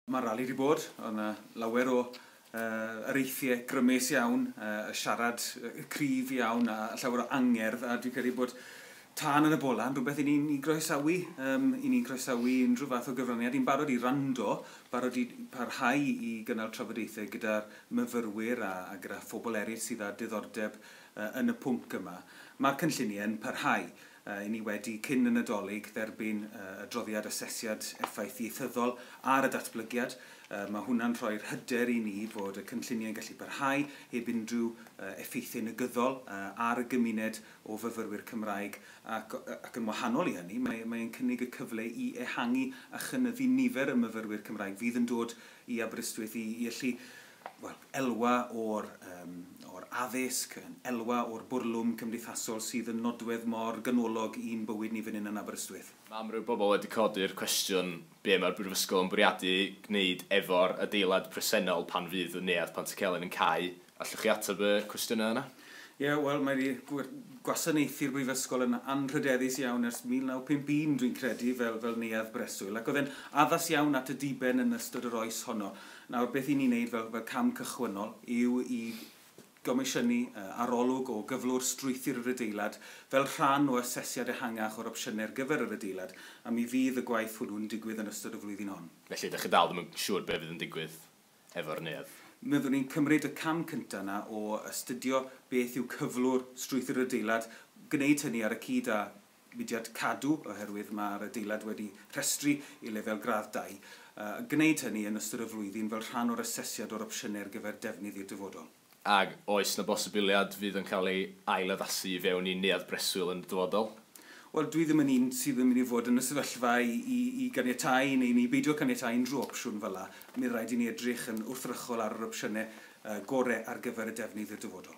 Mae'r rali wedi bod, oedd yna lawer o areithiau grymus iawn, y siarad cryf iawn a llawer o angerdd a dwi'n credu bod tân yn y bola yn rhywbeth i ni'n i groesawu, um, i ni'n croesawu unrhyw fath o gyfraniad, i'n barod i rando, barod i parhau i gynnal trafodaethau gyda'r myfyrwyr a, a gyda phobl eraill sydd â diddordeb uh, yn y pwnc yma. Mae'r cynlluniau yn parhau. Ry'n ni wedi, cyn y Nadolig, dderbyn y adroddiad asesiad effaith ieithyddol ar y datblygiad. Mae hwnna'n rhoi'r hyder i ni fod y cynlluniau'n gallu parhau heb unrhyw effeithiau negyddol ar y gymuned o fyfyrwyr Cymraeg ac, ac yn wahanol i hynny, mae, mae'n cynnig y cyfle i ehangu a chynyddu nifer y myfyrwyr Cymraeg fydd yn dod i Aberystwyth i, i allu wel, elwa o'r yym o'r addysg, yn elwa o'r bwrlwm cymdeithasol sydd yn nodwedd mor ganolog i'n bywyd ni fan hyn yn Aberystwyth. Mae amryw bobl wedi codi'r cwestiwn be mae'r Brifysgol yn bwriadu gwneud efo'r adeilad presennol pan fydd y Neuadd Pantycelyn yn cau. Allwch chi ateb y cwestiynau yna? Ie, wel, mae wedi gwasanaethu'r Brifysgol yn anrhydeddus iawn ers 1951, dwi'n credu, fel fel neuadd breswyl, ac oedd e'n addas iawn at y diben yn ystod yr oes honno. Nawr, beth i ni wneud fel, fel cam cychwynnol yw i gomisiynu arolwg o gyflwr strwythur yr adeilad fel rhan o asesiad ehangach o'r opsiynau ar gyfer yr adeilad, a mi fydd y gwaith hwnnw'n digwydd yn ystod y flwyddyn hon. Felly, ydych chi dal ddim yn siŵr beth fydd yn digwydd efo'r neuadd? Byddwn ni'n cymryd y cam cyntaf yna o astudio beth yw cyflwr strwythur yr adeilad, gwneud hynny ar y cyd â mudiad cadw oherwydd mae'r adeilad wedi rhestru i lefel gradd dau, a gwneud hynny yn ystod y flwyddyn fel rhan o'r asesiad o'r opsiynau ar gyfer defnydd i'r dyfodol. Ac oes 'na bosibiliad fydd yn cael ei ail-addasu i fewn i neuadd breswyl yn y dyfodol? Wel, dwi ddim yn un sydd yn mynd i fod yn y sefyllfa i ganiatáu neu i beidio caniatáu unrhyw opsiwn fel 'na. Mi fydd raid i ni edrych yn wrthrychol ar yr opsiynau gorau ar gyfer y defnydd i'r dyfodol.